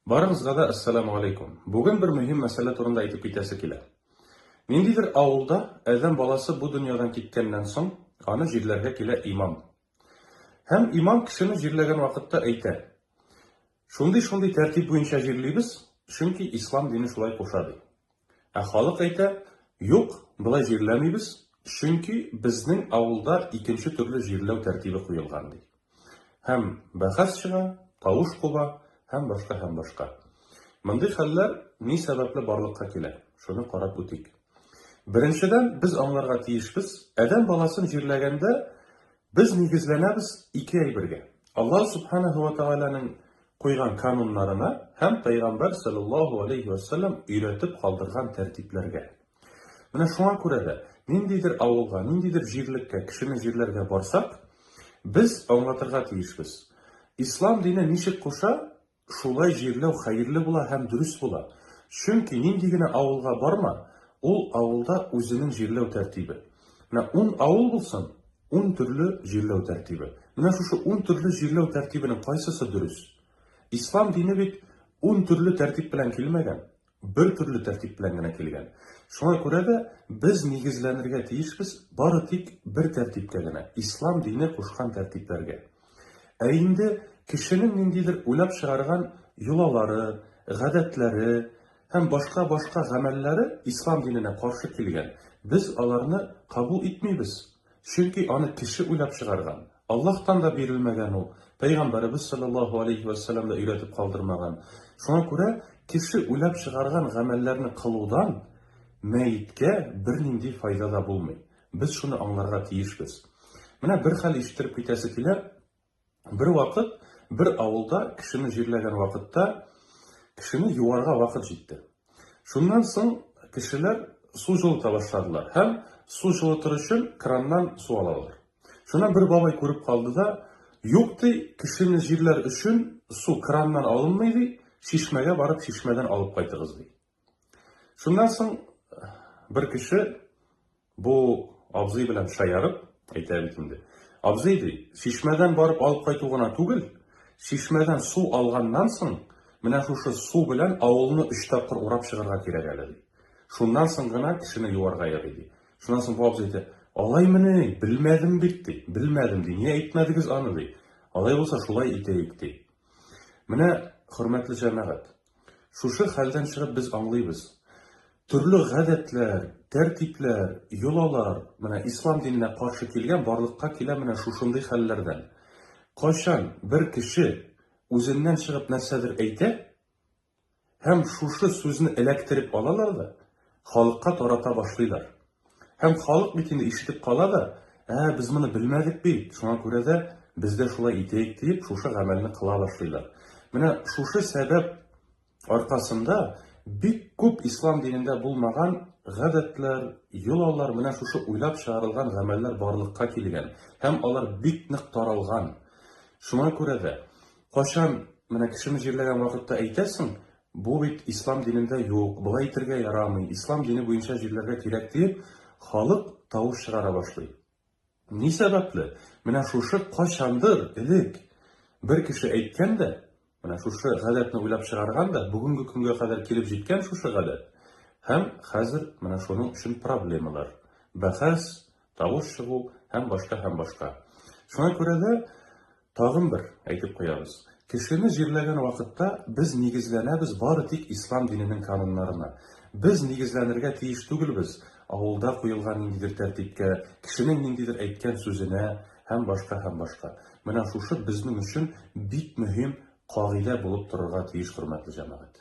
Барыгызга да Әссәламү алейкум. Бүген бер мөһим мәсьәлә турында әйтеп китәсе килә. Ниндидер авылда Адәм баласы бу дөньядан киткәннән соң, аны җирләргә килә имам. Һәм имам кешене җирләгән вакытта әйтә, Шундый-шундый тәртип буенча җирлибез, чөнки Ислам дине шулай куша, ди. Ә халык әйтә, Юк, болай җирләмибез, чөнки безнең авылда икенче төрле җирләү тәртибе куелган, ди. Һәм бәхәс чыга, тавыш куба һәм башка һәм башка. Мондый хәлләр ни сәбәпле барлыкка килә, шуны карап үтик. Беренчедән, без аңларга тиешбез, адәм баласын җирләгәндә, Без нигезләнәбез ике әйбергә, Аллаһ Субханаһу ва Тәгаләнең куйган кануннарына һәм Пәйгамбәр салләллаһу галәйһи вә сәлләм өйрәтеп калдырган тәртипләргә. Менә шуңа күрә дә, ниндидер авылга, ниндидер җирлеккә, кешене җирләргә барсак, без аңлатырга тиешбез. Ислам дине ничек куша, Шулай җирләү хәерле була һәм дөрес була. Чөнки нинди генә авылга барма, ул авылда үзенең җирләү тәртибе. Менә ун авыл булсын, ун төрле җирләү тәртибе. Менә шушы ун төрле җирләү тәртибенең кайсысы дөрес? Ислам дине бит ун төрле тәртип белән килмәгән. бер төрле тәртип белән генә килгән. Шуңа күрә дә без нигезләнергә тиешбез бары тик бер тәртипкә генә, ислам дине кушкан тәртипләргә. Ә инде кешенең ниндидер уйлап чыгарган йолалары, гадәтләре һәм башка-башка гамәлләре ислам диненә каршы килгән, без аларны кабул итмибез. Чөнки аны кеше уйлап чыгарган. Аллаһтан да бирелмәгән ул, Пәйгамбәребез салләллаһу галәйһи вә сәлләм дә өйрәтеп калдырмаган. Шуңа күрә кеше уйлап чыгарган гамәлләрне кылудан мәеткә бернинди файда да булмый. Без шуны аңларга тиешбез. Менә бер хәл ишеттереп китәсе килә. Бервакыт бер авылда кешене җирләгән вакытта кешене юарга вакыт җитте. Шуннан соң кешеләр су җылыта башладылар һәм су җылытыр өчен краннан су алалар. Шуннан бер бабай күреп калды да, Юк, ди, кешене җирләр өчен су краннан алынмый, ди, чишмәгә барып чишмәдән алып кайтыгыз, ди. Шуннан соң бер кеше бу абзый белән шаярып әйтә бит инде. Абзый ди, чишмәдән барып алып кайту гына түгел, чишмәдән су алганнан соң, менә шушы су белән авылны өч тапкыр урап чыгарга кирәк әле, ди. Шуннан соң гына кешене юарга ярый, ди. Шуннан соң бу абзый әйтә, алаймыни, белмәдем бит, ди. Белмәдем, ди. Ни әйтмәдегез аны, ди. Алай булса, шулай итәек, ди. Менә, хөрмәтле җәмәгать, Шушы хәлдән чыгып без аңлыйбыз, төрле гадәтләр, тәртипләр, йолалар, менә ислам диненә каршы килгән барлыкка килә менә шушындый хәлләрдән. Кайчан бер кеше үзеннән чыгып нәрсәдер әйтә һәм шушы сүзне эләктереп алалар да халыкка тарата башлыйлар. Һәм халык бит инде ишетеп кала да, Ә, без моны белмәдек бит, шуңа күрә дә без дә шулай итәйек, диеп, шушы гамәлне кыла башлыйлар. Менә шушы сәбәп аркасында бик күп ислам динендә булмаган гадәтләр, йолалар, менә шушы уйлап чыгарылган гамәлләр барлыкка килгән һәм алар бик нык таралган. Шуңа күрә дә, кайчан менә кешене җирләгән вакытта әйтәсең, Бу бит ислам динендә юк, болай итергә ярамый, ислам дине буенча җирләргә кирәк, диеп, халык тавыш чыгара башлый. Ни сәбәпле? Менә шушы кайчандыр элек бер кеше әйткән дә, менә шушы гадәтне уйлап чыгарган да, бүгенге көнгә кадәр килеп җиткән шушы гадәт һәм хәзер менә шуның өчен проблемалар, бәхәс, тавыш чыгу һәм башка һәм башка. Шуңа күрә дә тагын бер әйтеп куябыз, кешене җирләгән вакытта без нигезләнәбез бары тик ислам диненең кануннарына. Без нигезләнергә тиеш түгелбез авылда куелган ниндидер тәртипкә, кешенең ниндидер әйткән сүзенә һәм башка һәм башка. Менә шушы безнең өчен бик мөһим кагыйдә булып торырга тиеш, хөрмәтле җәмәгать.